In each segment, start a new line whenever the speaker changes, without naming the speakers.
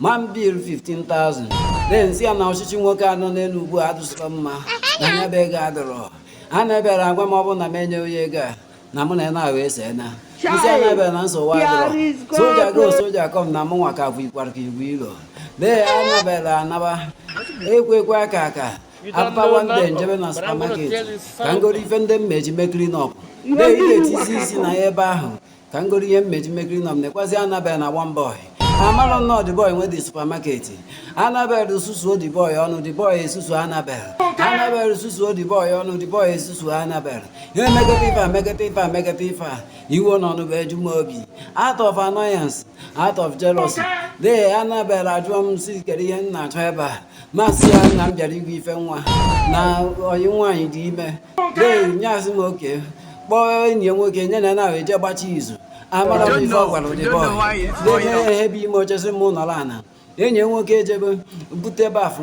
mambil 15,000 naira m si ya na ọchịchị nwoke anọ n'elu ugbu a adịzikwa mma na nya bụ ego adịrọ anabel agwa m ọ bụ na m enye onye ego a na mụ na ya na-ahụ ese m si anabel na nsogbu adịrọ soldier go soldier come na mụ nwa ka bụ ikwara ka igwe ilo bee anabel anaba ekwe ekwe aka aka apawa ndị m jebe na supermarket ka m goro ife ndị mmeji mekiri nọpụ bee ị ga-etizi isi na ya ebe ahụ ka m goro ihe mmeji mmekiri nọ m nekwazi anabel na one boy amarọ m na ọ the boy nwe the supermarket anabel susuo the boy ọnụ the boy esusu anabel anabel susuo the boy ọnụ the boy esusu anabel ihe megete ife a megete ife a megete ife a iwe na ọnụma eju m obi out of annoyance out of jealousy dee anabel ajụọ m si kee ihe m na-achọ ebe a m asị ya na m bịara igo ife nwa na enyi m nwaanyị dị ime nya asị m okay kpọọ enyi ya nwoke nya na na-ahụ eje gbachi izu amarọ m ife ọ gwara the boy na-enye ihe bụ ime oche sị m nọrọ ana enyi nwoke ejebe bute bafụ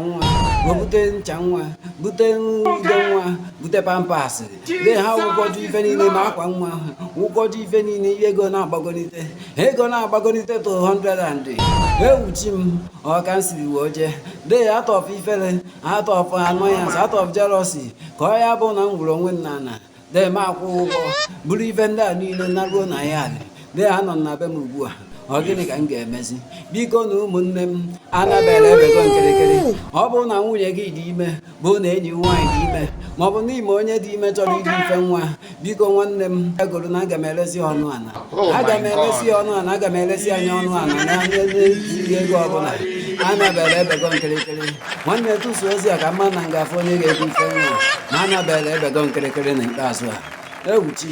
nwa bute ncha nwa bute ude nwa bute pampers de ha wụkọjụ ife niile ma akwa nwa wụkọjụ ife niile ihe ego na-agbagonite ego na-agbagonite to 100 ewuchi m ọka m siri wee jee de atọpụ ifere out of annoyance out of jealousy ka ọ ya bụ na m gwuru onwe m n'ala dee m akwụ ụgwọ buru ife ndị a niile na ruo na ya alị dee ha nọ na be m ugbu a ọ gịnị ka m ga-emezi biko na ụmụnne m anabel ebego m kirikiri ọ bụrụ na nwunye gị dị ime bụ na enyi nwaanyị dị ime maọbụ na ị ma onye dị ime chọrọ iji ife nwa biko nwanne m bịa goro na aga m eresi ọnụ ala oh aga m eresi ọnụ ala aga m eresi nya ọnụ ala na ihe ego ọbụla anabel ebego m kirikiri nwanne tụsa ozi a ka m ma na m ga-afụ onye ga-ego ife nwa na anabel ebego m kirikiri na ikpeazụ a ewuchi